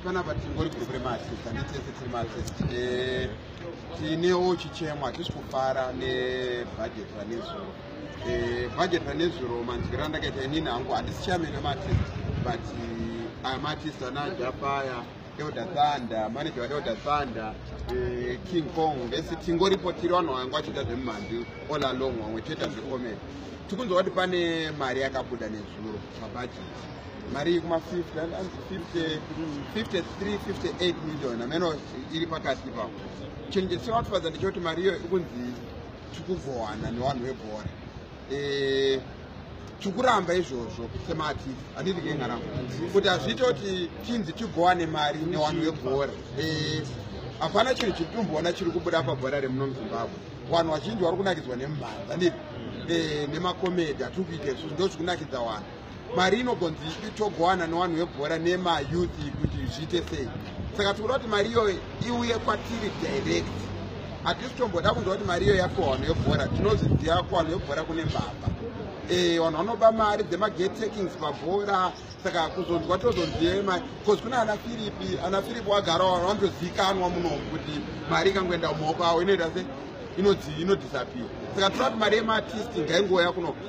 panapa tingori group remaartist handitese tiri maartist eh, tinewo chichemo hatisi kufara nebhajeti ranezuro bhajeti eh, ranezuro manzwiro andakaita inini hangu handisi chairman wemaartist but eh, amaartist ana jafaya elder thunder manager waelder thunder king kong vese tingoripo tiri vanhu vangu vachiita zvemumhandu all along vamwe tichiita zvecomedy tikunzwa kuti pane mari yakabuda nezuro mabhajeti mari iri kuma 50 5358 million ameno iri pakati ipapo chinhu chisingakutofadza ndechekuti mari iyo ikunzi tikugowana nevanhu vebhora eh, tikuramba izvozvo semati handiti kengaramba kuti hazviite kuti tinzi tigowane mari nevanhu vebhora eh, hapana chinhu chiri tumboona chiri kubuda pabhora remuno muzimbabwe vanhu vazhinji vari kunakidzwa nemhanza nemakomedi hatiri kuita izvozvo ndo zvikunakidza vanhu mari inogonzi itogowana nevanhu vebhora nemayouth kuti zviite sei saka tikuda kuti mari iyoyo iuye kwatiri direct hatisi tomboda kunzwa kuti mari iyo yapiwa vanhu vebhora tinozviziva ko vanhu vebhora kune mbavha eh, vanhu vanoba mari dzemagate takings pabhora saka kuzonzwa tozonzive mari bcause kune ana firipi ana firipi wagara vanhu vanotozikanwa muno kuti mari ikangoenda mumaoko avo inoita se inodisappear saka toda kuti mari yemaartisti ngaingouya kuno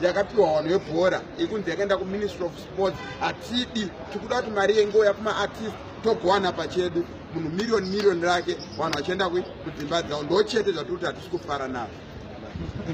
yakapiwa hwano yebhora ikunzi yakaenda kuministry of sports hatidi tikuda kuti mari yengouya kumaartist togowana pachedu munhu miriyoni miriyoni rake vanhu vachienda kudzimba dzavo ndo chete zvatiri kuti hatisi kufara nazvo